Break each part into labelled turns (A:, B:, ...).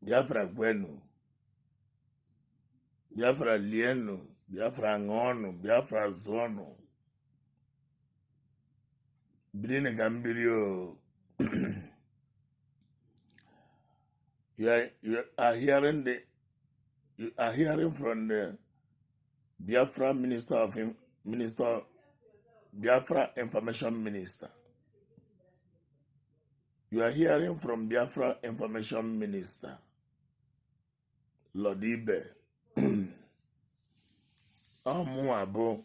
A: biafra kwenu biafra lienu biafra ṅụọnụ biafra zụọnụ birinụ ka m biri o you are, you are hearing the you are hearing from the Biafra Minister of Minister Biafra Information Minister you are hearing from Biafra Information Minister Lodibe ọmụwa bụ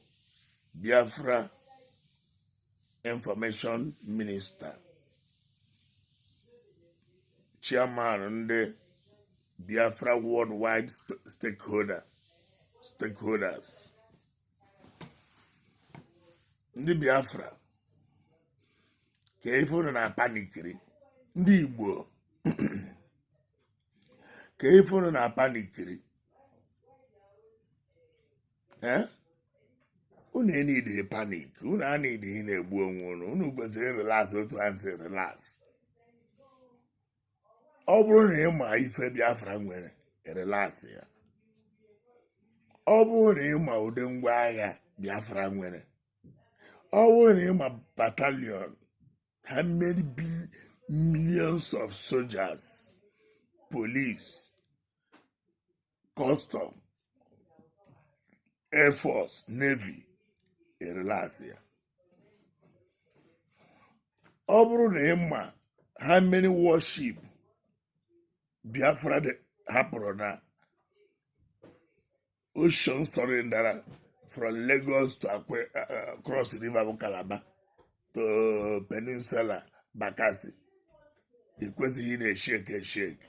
A: Biafra information minister chairman ndị biafra worldwide st- stakeholder stakeholders ndị biafra kee ife unu na-apanikiri ndị igbo kee ife unu na-apanikiri Eh? unu enidighi panik unu enidighi ị na-egbu onwe unu unu kwesịrị relax otu a si relax ọ bụrụ na ị ma ife biafra nwere relaxịa ọ bụrụ na ị ma ụdị ngwa agha biafra nwere ọ bụrụ na ị ma batalion how many bil- millions of soldiers police kọstọm air force navy ị rịlasịa ọ bụrụ na ị ma how many warship biafra dị- hapụrụ na ocean surrendera from lagos to Akwe, uh, cross river bụ calabar to peninsula bakasi ị kwesịghị ị na-esheki esheki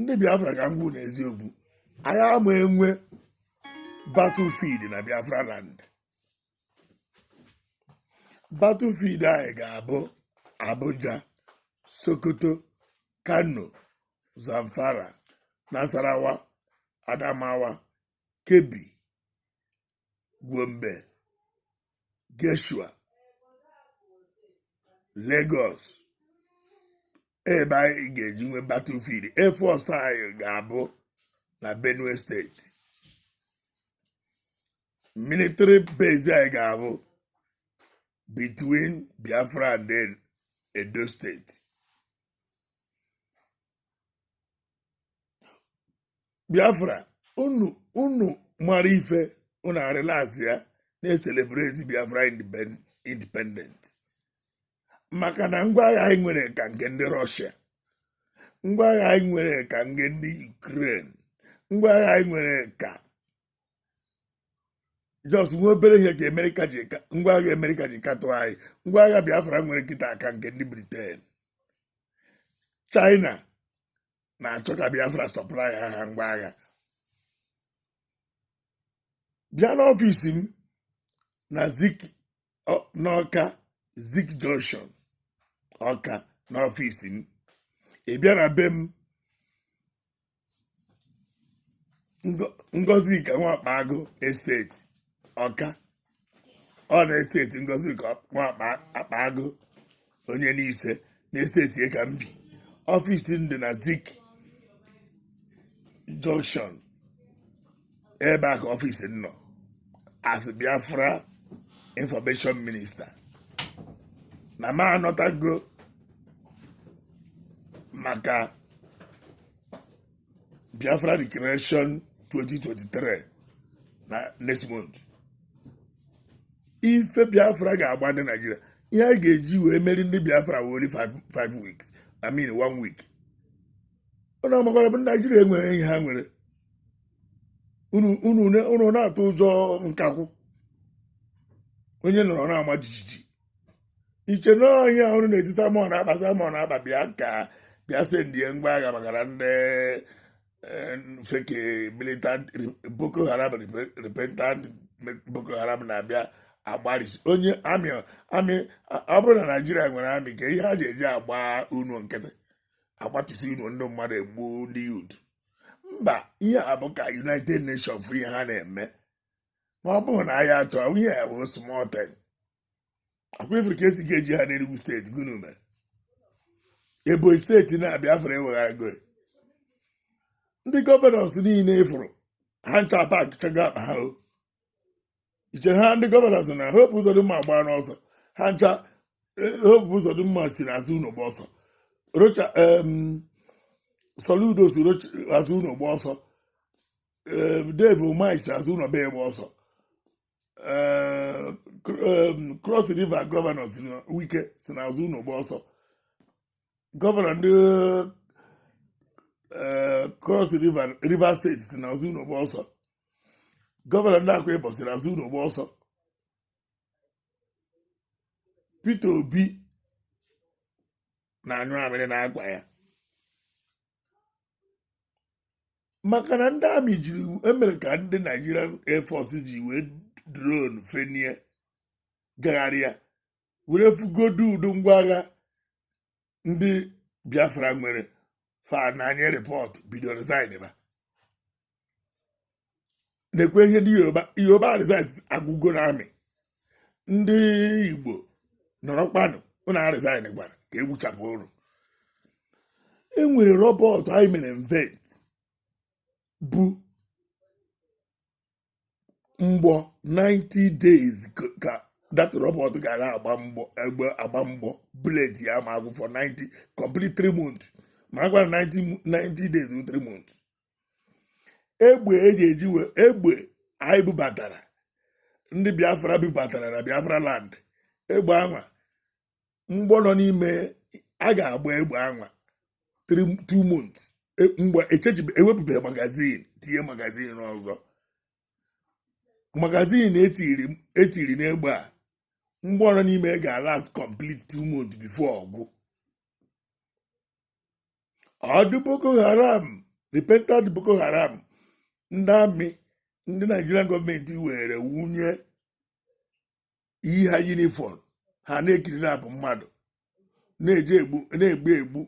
A: ndị biafra ka m gwa unu eziokwu anyị ama enwe battlefield na biafra land battlefield anyị ga-abụ abuja sokoto kano zamfara nasarawa adamawa Kebbi, Gombe, Gashua, Lagos ebe anyị ga-eji nwee battlefield Air Force anyị ga-abụ na Benue steeti military base anyị ga-abụ between Biafra and then Edo steeti biafra unu unu mara ife unu arịlasịa na-eselebreti biafra independent maka na ngwa agha anyị nwere ka nke ndị rọshia ngwa agha anyị nwere ka nke ndị ukren ngwa agha anyị nwere ka just nwe obere ihe ka ngwa agha emerika ji katụ anyị ngwa agha biafra nwere kịtaa ka nke ndị briten china na-achọ ka biafra supply ha ha ngwa agha bịa n'ọfịs m na zik n'ọka zik junction ọka n'ọfịs m ị bịa na be m Ngo- ngozika nwakpa agụ esteti ọka ọ na esteti ngozika akpa agụ onye n'ise n'esteti ka m bi ọfịs dị na zik junction ebe a ka ọfịs nọ as biafra information minister na m anọtago maka biafra declaration 2023 na next month ife biafra ga-agba ndị naijiria ihe a ga-eji wee meri ndị biafra wụ only five five weeks i mean one week unu amakwara bụ naijiria enwerọ ihe ha nwere unu unu ne- unu na-atụ ụjọ nkakwụ onye nọrọ na-ama jijiji iche na ọhịa ọrụ na-eti simon ekpa simon ekpa bịa ka bịa sendie ngwa agha maka na ndị eh, fake militant boko haram repe- repentant boko haram na-abịa agbarisi onye amị amị ọ bụrụ na naijiria nwere amị kee ihe ha ji eji agba unu nkịtị agbatịsị unu ndị mmadụ egbu ndị yut mba ihe a bụ ka united nations fụ ihe ha na-eme na ọ bụrụ na anyị achọ ihe ya bụ small thing akwa ị fụrụ ka esi ga-eji ha n'Enugu steeti gụnụ mere Ebonyi steeti na biafra ewegharago ndị gọvanọs niile ị fụrụ ha ncha pakchago akpa ha o ichere ha ndị gọvanọs na hope uzodinma agbaana ọsọ ha ncha hope uzodinma si n'azụ ụlọ gba ọsọ rocha em soludo si azụ ụlọ gba ọsọ eh, Dave Umahi si azụ ụlọ wee gba ọsọ Cross River gọvanọ si na Wike si na azụ ụlọ gba ọsọ gọvanọ ndị eh, Cross River Rivers steeti si na azụ ụlọ gba ọsọ gọvanọ ndị Akwa Ibom si na azụ ụlọ gba ọsọ Peter Obi na-anyụ amịrị n'akwa ya maka na ndị amị jiri emerika ndị Nigerian Air Force ji wee drone fenie gagharịa were fụgodu ụdị ngwa agha ndị Biafra nwere fa na-enye rịpọtụ bido resign ba na-ekwu ihe ndị yoruba yoruba resign agwụgo na army ndị igbo nọrọkwanụ ụnụ aresignkwana ka e gbuchapụ ụnụ e nwere robot anyị mere invent bụ mgbọ 90 days ka that robot ga na-agba mgbọ egbe agba mgbọ bullet ya ama agwụ for 90 complete 3 months marakwanụ 90 days wụ 3 months egbe eji eji wee egbe anyị bubatara ndị biafra bubatara na biafra land egbe anwa mgbọ nọ n'ime a ga-agba egbe anwa two months e, mgbe echenjibe ewepụbeghị magazine tinye magazine ọzọ magazine etiri etiri n'egbe a mgbọ nọ n'ime ga-alast complete two months before ọ gwụ ndị boko haram repentant boko haram ndị army ndị nigerian gọọmenti were wunye yii ha yunifọm ha na-ekiri na-abụ mmadụ na-eje egbu na-egbu egbu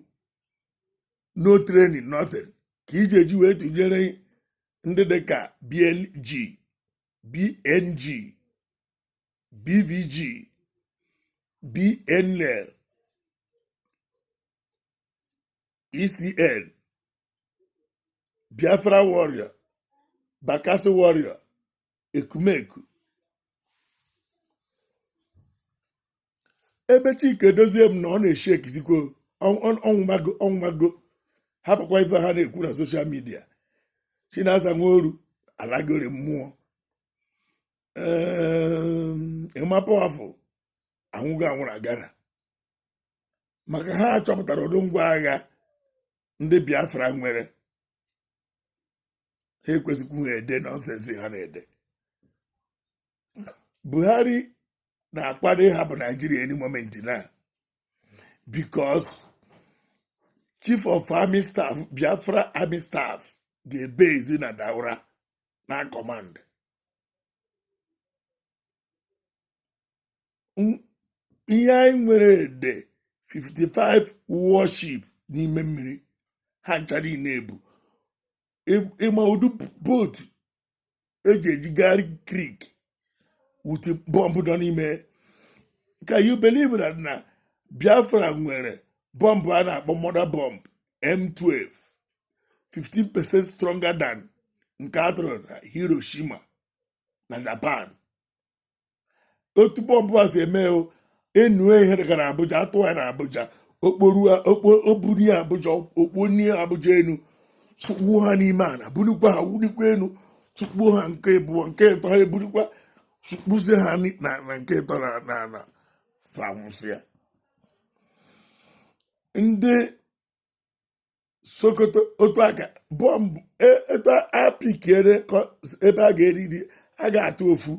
A: no training nothing ka ị je-eji wee tụnyere ndị dị ka BNG BNG BVG BNL ECN Biafra Warrior Bakassi Warrior ekumeku ebe chika edoziem nọ ọ na-eshi existikwo ọ nwụmago ọ nwụmago hapụkwa ife ha na-ekwu na social media chinasa nworu alagori mmụọ emma powerful anwụgo anwụrụ agara maka ha chọpụtara ụdị ngwa agha ndị biafra nwere ha ekwesịkwu ha ede nonsense ha na-ede buhari na-akwado ịhapụ naijiria any moment now because chief of army staff biafra army staff ga-ebezi na daura na-acommand ihe anyị nwere ede 55 warship n'ime mmiri ha ncha niile ebu ị ma ụdị boat eji ejigharị creek with bọmbụ nọ n'ime can you believe that na biafra nwere bọmbụ a na-akpọ mother bomb m12 15 percent stronger than nke atụrụ na hiroshima na japan otu bọmbụ a si eme o enwee ihe gara abuja a tụọ ya na abuja o kpoburu ya abuja o kponie abuja enu tụkpuo ha n'ime ana bunikwa ha bunikwa enu tụkpuo ha nke ịbụọ nke ịtọ ha eburukwa tụkpuzie ha na nke ịtọ na ana fa nwụsịa ndị sokoto otu a ga-abọmbụ e, etu apikiere ebe a ga-eriri a ga-atụ ofu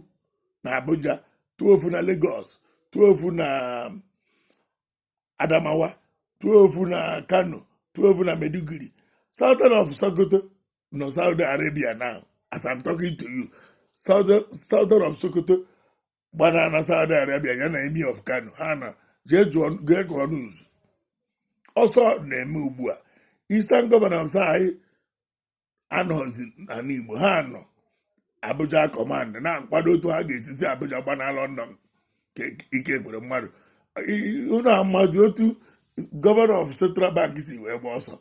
A: na abuja tụọ ofu na lagos tụọ ofu na um, adamawa tụọ ofu na kano tụọ ofu na maiduguri sultan of sokoto nọ saudi arabia now as i'm talking to you sultan of sokoto gbana na saudi arabia ya na emir of kano ha na jee gụọ news ọsọ na-eme ugbu a eastern governors anyị anọzi n'ana igbo ha nọ abuja command na-akwado otu ha ga-esi si abuja gbana london ka ike gwụrụ mmadụ unu amazi otu governor of central bank si wee gba ọsọ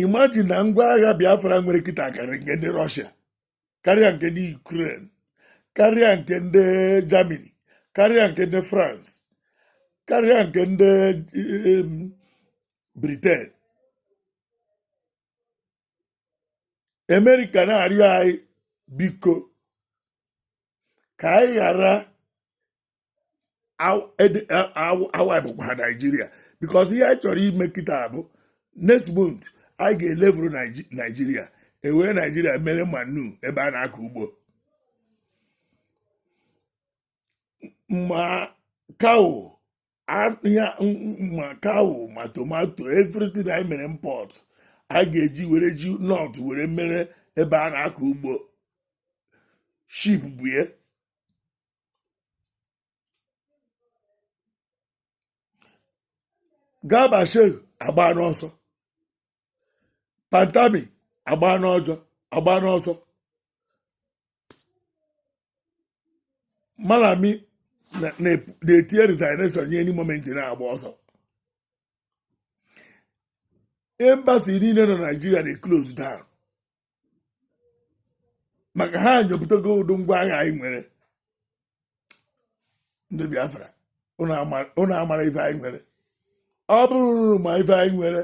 A: imagine na ngwa agha biafra nwere kịta karịrị nke ndị russia karịa nke ndị ukraine karịa nke ndị germany karịa nke ndị france karịa nke ndị em, britain america na-arịọ anyị biko ka anyị ghara awaịpụkwa naijiria because ihe anyị chọrọ ime kịta bụ next month anyị ga-elevel naijiria e were naijiria mere manure ebe a na-akọ ugbo ma cow ma cow ma tomato everything anyị mere import anyị ga-eji were ji north were mere ebe a na-akọ ugbo ship bụ ya garba shehu agba n'ọsọ pantami agba n'ọjọ agba n'ọsọ malami na- na- na-etinye resignation ya any moment na-agba ọsọ embassy niine nọ naijiria na-eclose down maka ha nyopụtago ụdị ngwa agha anyị nwere ndị Biafra unu amarọ ife anyị nwere ọ bụrụ unu ma ife anyị nwere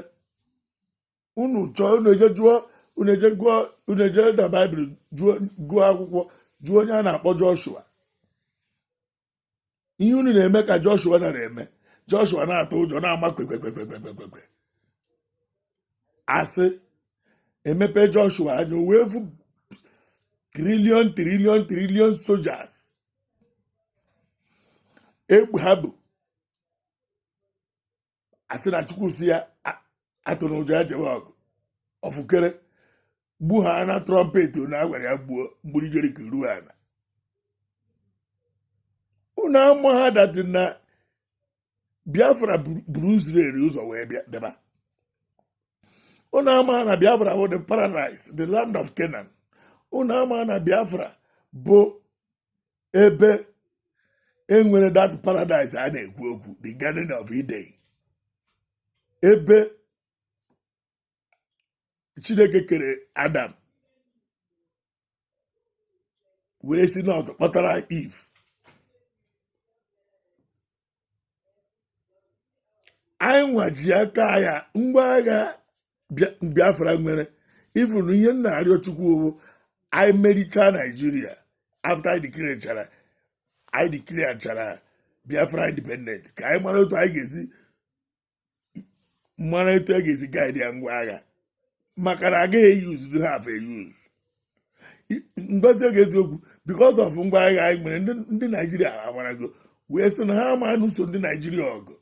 A: unu chọọ unu eje jụọ unu eje gụọ unu eje na Bible gụọ akwụkwọ jụọ onye a na-akpọ Joshua ihe unu na-eme ka Joshua nara eme Joshua na-atụ ụjọ na-ama kpekpekpekpekpekpekpe asị emepe Joshua anya wee fụ trillion trillion trillion soldiers egbe ha bu asị na Chukwu sị ya atụna ụjọ ya jebe ọgụ ọfụkere gbu ha na trumpet na agwara ya gbuo mgbidi Jeriko ruo ala unu amaha that na Biafra buru Israel ụzọ wee bịa deba unu amaha na Biafra bụ the paradise the land of Canaan unu amaha na Biafra bụ ebe e nwere that paradise a na-ekwu okwu the garden of Eden ebe Chineke kere Adam were si na ntụ kpụtara Eve anyị nwa ji aka agha ngwa agha Bia- Biafra nwere even ihe m na-arịọ Chukwu ọ bụ anyị merichaa Nigeria after anyị declarechara anyị declarechara Biafra independent ka anyị mara otu anyị ga-esi mara etu a ga-esi guide ya ngwa agha maka na agaghị eyi uzuzu ha afọ eyi uzu mgbazi oge eziokwu because of ngwa agha anyị nwere ndị Nigeria amarago wee sị na ha ama anụso ndị Nigeria ọgụ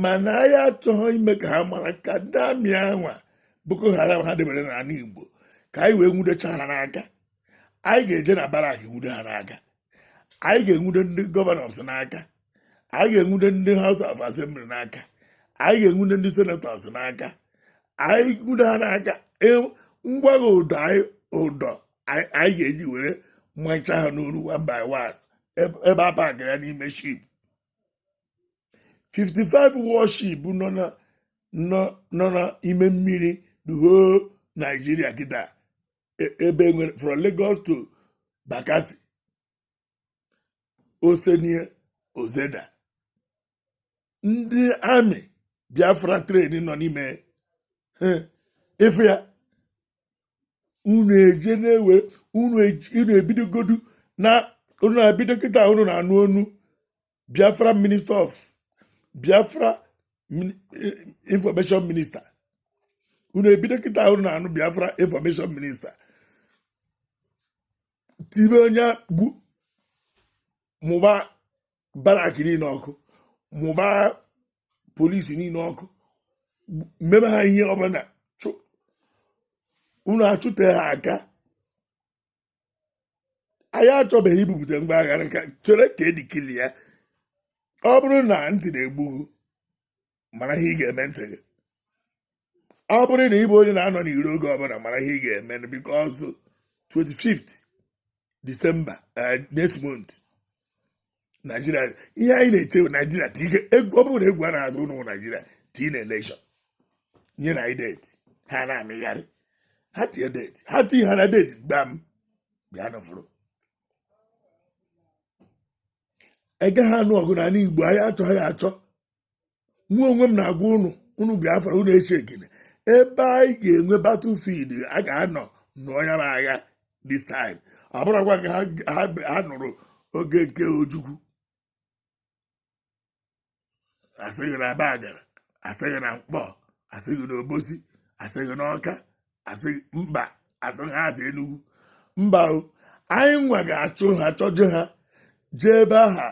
A: mana anyị achọghị ime ka ha mara ka ndị army a nwa Boko Haram ha debere n'ala Igbo ka anyị wee nwudecha ha n'aka anyị ga-eje na barrack nwude ha n'aka anyị ga-enwude ndị governors n'aka anyị ga-enwude ndị House of Assembly n'aka anyị ga-enwude ndị senators n'aka anyị nwude ha n'aka e- ngwa agha ụdọ anyị ụdọ anyị ga-eji were machaa ha n'olu one by one ebe a pakịrị ya n'ime ship 55 warship nọ na nọ n'ime mmiri the whole Nigeria kịta e- ebe nwere from Lagos to Bakassi o senie o zeda ndị army Biafra train nọ n'ime ọfịa unu eje na-ewe unu eji- unu ebidogodu na unu na-ebido kịta unu na-anụ onu Biafra minister of Biafra information minister unu ebido kịta ahụ na-anụ Biafra information minister tibe onye gbu mụba barrack niile ọkụ mụba police niile ọkụ mebe ha ihe ọbụla unu achụte ha aka anyị achọbeghị ibupụta ngwa agha a ka chere ka e declare ya ọ bụrụ na ntị na-egbu gị mara ihe ị ga-eme ntị gị ọ bụrụ na ị bụ onye na-anọ n'iro oge ọbụla mara ihe ị ga-eme because 25th December uh, next month naijiria ihe anyị na-eche naijiria ti ike egwu ọ bụrụ na egwu a na-atụ ụnụ naijiria tii na election nye anyị date ha na-amịgharị ha tie date ha tii ha na date gbam bịanụ fụrụ egaghị anụ ọgụ n'ala igbo anyị achọghị achọ mụ onwe m na-agwa unu ụmụ biafra unu eche gịnị ebe anyị ga-enwe battlefield a ga-anọ nụọ ya bụ agha this time ọ bụrọkwa ka ha- ha ha nụrụ oge nke ojukwu a sị gị na abagana a sị gị na nkpor a sị gị na obosi a sị gị na ọka mba a sị gị a sị enugwu mba o anyị nwa ga-achụ ha chọje ha jee ebe aha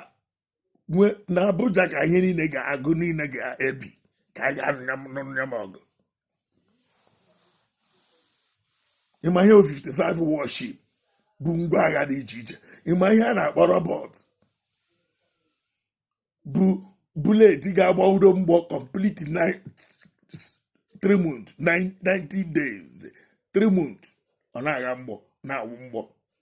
A: nwee na Abuja ka ihe niile ga-agwụ niile ga-ebi ka a ga-anọ nụọ ya bụ ọgụ ị ma ihe 55 warship bụ ngwa agha dị iche iche ị ma ihe a na-akpọ robot bụ bullet ga-agba udo mgbọ complete nine- three months, nine- 90 days three months ọ na-agha mgbọ na-awụ mgbọ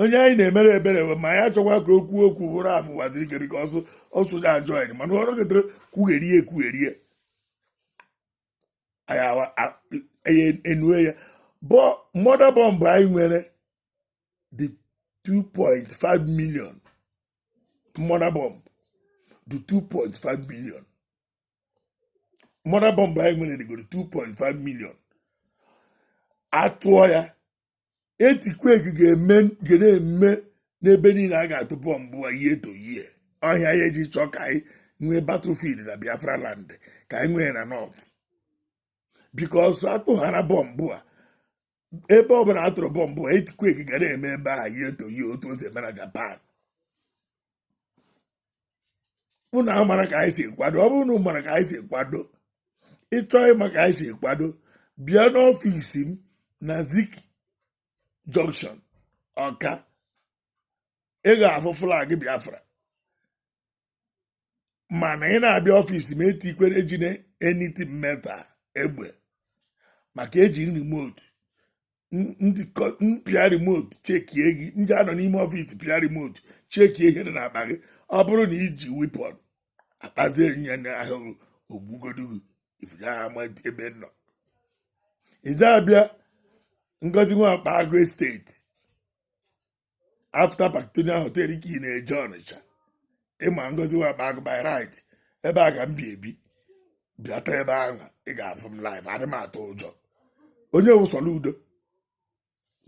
A: onye anyị na-emere ebere ma ya chọkwa ka okwu okwu bụ ralph uwazuruike because ọsụ ya ajọ anyị mana ọrụ gịtere kwugherie ekwugherie anyị enue ya bụ mother bomb anyị nwere dị 2.5 million mother bomb dị 2.5 million mother bomb anyị nwere dịgoro 2.5 million a tụọ ya earthquake ga-eme ga na-eme n'ebe niile a ga-atụ bọmbụ a year to year ọhịa ya e ji chọọ ka anyị nwee battlefield na biafra land ka anyị nwee na north because atụghara bọmbụ a ebe ọbụla a tụrụ bọmbụ a earthquake ga na-eme ebe ahụ year to year otu o si eme na japan unu amara ka anyị si kwado ọ bụrụ na unu mara ka anyị si kwado ị chọọ ịma ka anyị si kwado bịa n'ọfịs m na zik junction ọka ị ga-afụ flag biafra mana ị na-abịa ọfịs m etikwere ejine anything metal egbe maka e ji remote m pịa remote chekie gị m ji anọ n'ime ọfịs pịa remote chekie ihe dị n'akpa gị ọ bụrụ na i ji weapon akpazie ya na ahụhụ ogbugodu gị ifuga ama ebe m nọ i je abịa ngozi nwa akpa agụ esteti afta Parktonian hotel ka ị na-eje ọnịcha ịma ngozi nwa akpa agụ by right ebe a ka m bi ebi bịata ebe ahụ ị ga-afụ m live adị m atụ ụjọ onye bụ soludo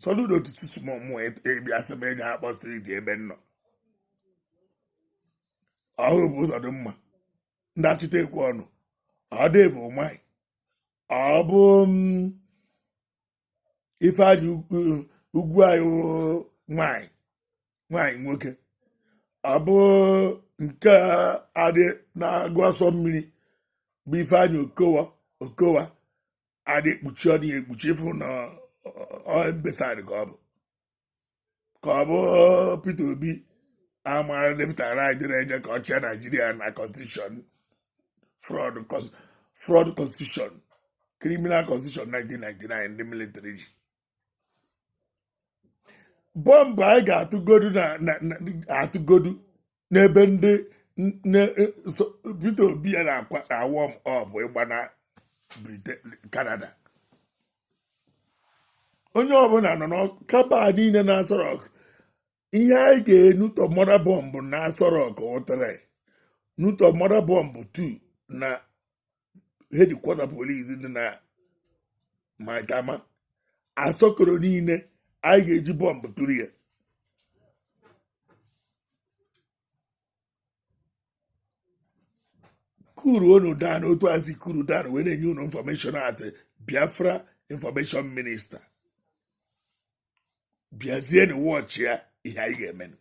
A: soludo tutu sumọmụ ebiasị m eji akpọ striti ebe m nọ ọ Hope Ụzọdịmma ndị achịta ekwu ọnụ ọ Dave Umahi ọ bụ mm, Ifeanyi Ugwuanyi nwanyị nwanyị nwoke ọ bụ nke a dị n'aga ụsọ mmiri bụ Ifeanyi Okowa Okowa adị ekpuchi ọ dịghị ekpuchi ifu na mbesa ka ọ bụ ka ọ bụ Peter Obi amara lefụtara anyị dịrị eje ka ọ chịa Naijiria na constitution fraud cons- fraud constitution criminal constitution 1999 ndị military ji bọmbụ anyị ga-atụgodu na na- na- atụgodu n'ebe ndị Peter Obi ya na-akwa na warm up ịgbana Canada onye ọbụla nọ na cabal niile na Aso Rock ihe anyị ga-enu 2 mortar bọmbụ na Aso Rock ụtara nu 2 mortar bọmbụ 2 na hedikwọta polis dị na maitama asọkoro niile anyị ga-eji bọmbụ tụrụ ya kuru unu down otu azi kuru down wee na-enye unu infọmeshọn as Biafra infọmeshọn minista bịazienụ wọchị ya ihe anyị ga-emenụ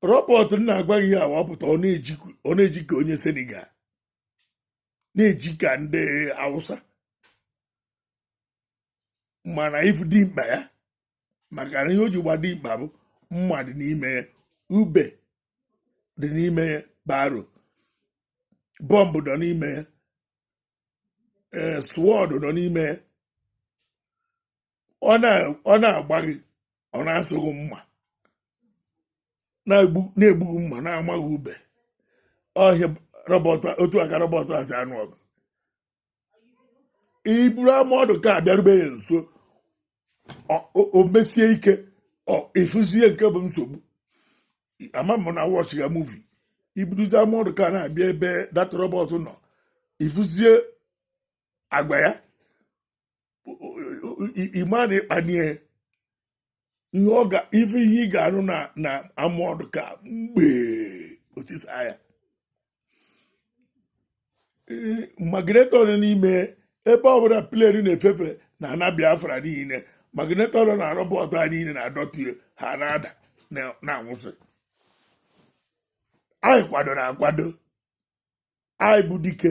A: robot m na-agwa gị ya ọ pụta ọ na-eji ka onye senegal na-eji ka ndị awụsa mana ị fụ dimkpa ya maka na ihe o ji gba dimkpa bụ mma dị n'ime ya ube dị n'ime ya barrel bọmbụ nọ n'ime ya ee sword nọ n'ime ya ọ na-agba gị ọ na-asụ gị mma na-egbu gị mma na-ama gị ube ọhịa otu a ka rọbọt a si anụ ọgụ i buru armoured car abịarube ya nso o mesie ike ị fụzie nke bụ nsogbu ama m na wọchị ya muvi i buruzi armoured car na-abịa ebe that rọbọt nọ ị fụzie agwa ya ị ma na ị kpanie ihe ọ ga ife ihe ị ga-anụ na na armoured car mgbe o tisa ya magneto nọ n'ime ebe ọbụla plane na-efefe na ana biafra niile magneto nọ na rọbọt a niile na-adọtụ ya, ha na-ada na- na-anwụsị anyị kwadoro akwado anyị bụ dike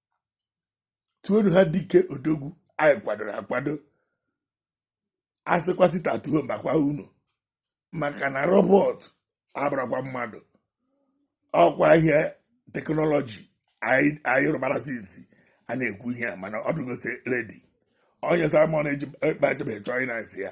A: tuonu ha dike odogwu anyị kwadoro akwado a sịkwa sit at home mbakwa unu maka na robọt abụrakwa mmadụ ọ kwa ihe teknọlọji anyị rụbara since a na-ekwu ihe a mana ọ dụgozi ready onye simon ejebe chọọ ịna-asị ya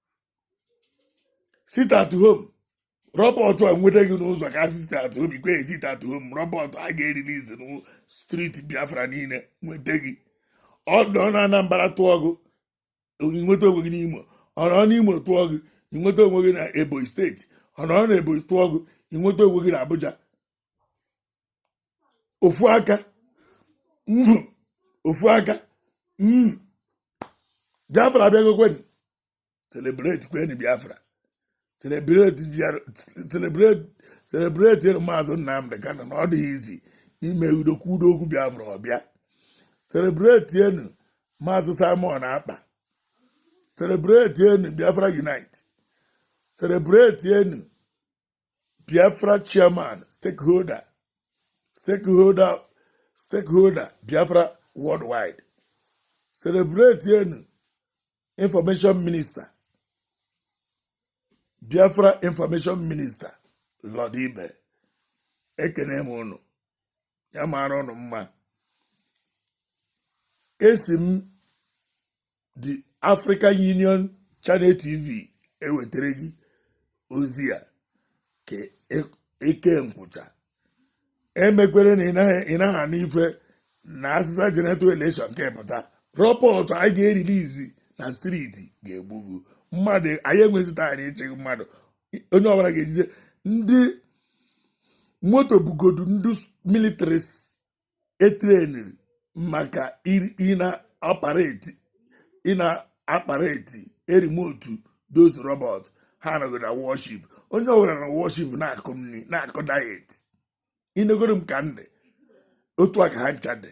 A: sit at home rọbọt a nweta gị n'ụzọ ka sit at home ikwe sit at home rọbọt a ga-erilizi na street biafra niile nweta gị ọ nọ na anambra tụọ gị i nweta onwe gị n'imo ọ nọ n'imo tụọ gị i nweta onwe gị na ebonyi steeti ọ nọ na ebonyi tụọ gị i nweta onwe gị na abuja ofu aka mm, ofu aka mm. biafra abịagokweni celebrate kweni biafra celebrate biafra celebrate celebrate maazị nnamdị kanu na ọ dịghị easy ime udo kwuo udo okwu biafra ọ bịa celebrate enu maazị simon ekpa celebrate enu biafra unite celebrate enu Biafra chairman, stakeholder, stakeholder, stakeholder, Biafra worldwide. Celebrate Yenu, information minister, Biafra information minister, Lord Ibe. Ekene m unu, ya mara unu mma esi m the African Union Channel TV ewetara gị ozi a ka eke e nkwụcha emekwere na ị naghị anụ ife na asịsa general election nke pụta rọbọt anyị ga-erilizi na street ga-egbugbu mmadụ anyị enweghịzi time ịchịghị mmadụ onye ọbụla ga-ejide remote bụgodu ndị military e treniri maka ịna-operate ịna-operate remote those robot ha anọgo na warship onye ọbụla na warship na-akụ nri na-akụ diet inegoro m ka ndị otu a ka ha ncha dị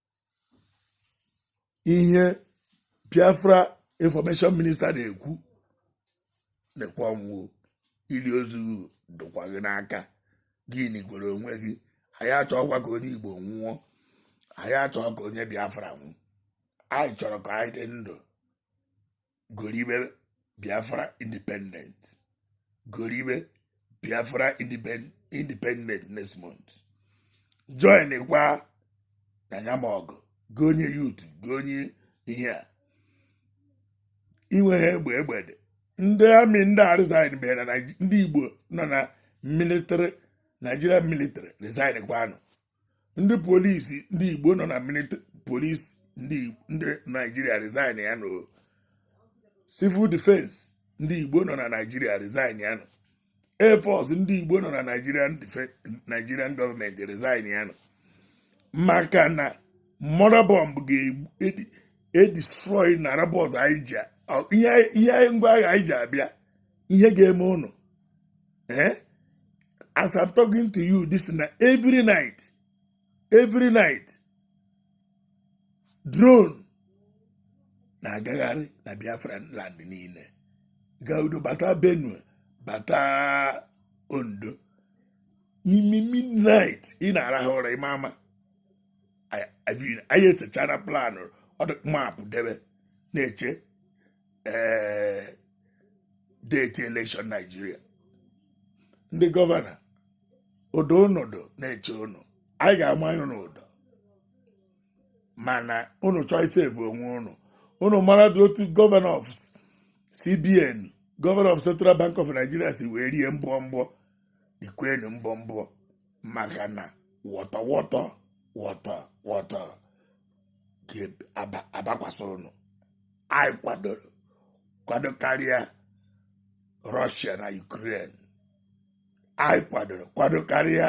A: ihe biafra information minista na-ekwu nekwa ọnwụ ili ozu dụkwa gị n'aka gị nikwere onwe gị anyị achọghịkwa ka onye igbo nwụọ anyị achọghị ka onye biafra nwụọ anyị chọrọ ka anyị dị ndụ goribe biafra independent goribe biafra independent next month join kwanụ anyị n'ọgụ gị onye youth gị onye ihe a inweghị egbe egbe dị ndị amị ndị a resign benụ ndị igbo nọ na nigerian military resign kwanụ ndị polisi ndị igbo nọ na polisi ndị naijiria resign ya nụ civil defense ndị igbo nọ na naijiria resign ya nụ air force ndị igbo nọ na nigerian gọọmenti resign ya nụ maka na mother bomb ga-edestroy na rabọt anyị ji ihe ngwa agha anyị ji abịa ihe ga-eme ụnụ ee eh? as I'm talking to you this na every night every night drone na-agagharị na Biafra land niile gaa Edo bata Benue bata Ondo n'ime midnight ị na-arahụ ụra ị ma ama anyị esechana plan road map debe na-eche eh, deti elekshọn naijiria ndị gọvanọ ụdọ ụnụ dụ na-eche ụnụ anyị ga-amanye ụnụ ụdọ mana ụnụ chọọ isevu onwe ụnụ ụnụ mara dị otu gọvanọ of cbn gọvanọ of central bank of nigeria si wee rie mbọ mbọ rikwenụ mbọ mbọ maka na wọtọ wọtọ wọtọ wọtọ ga-abakwasa ụnụ anyị kwadoro kwado karịa rọshia na ukraine anyị kwadoro kwado karịa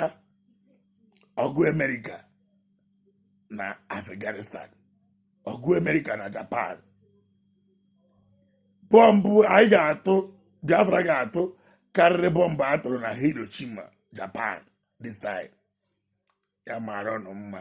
A: ọgụ amerịka na afghanistan ọgụ amerịka na japan bọmbụ anyị ga-atụ biafra ga-atụ karịrị bọmbụ a tụrụ na hiroshima japan this time ya mara ụnụ mma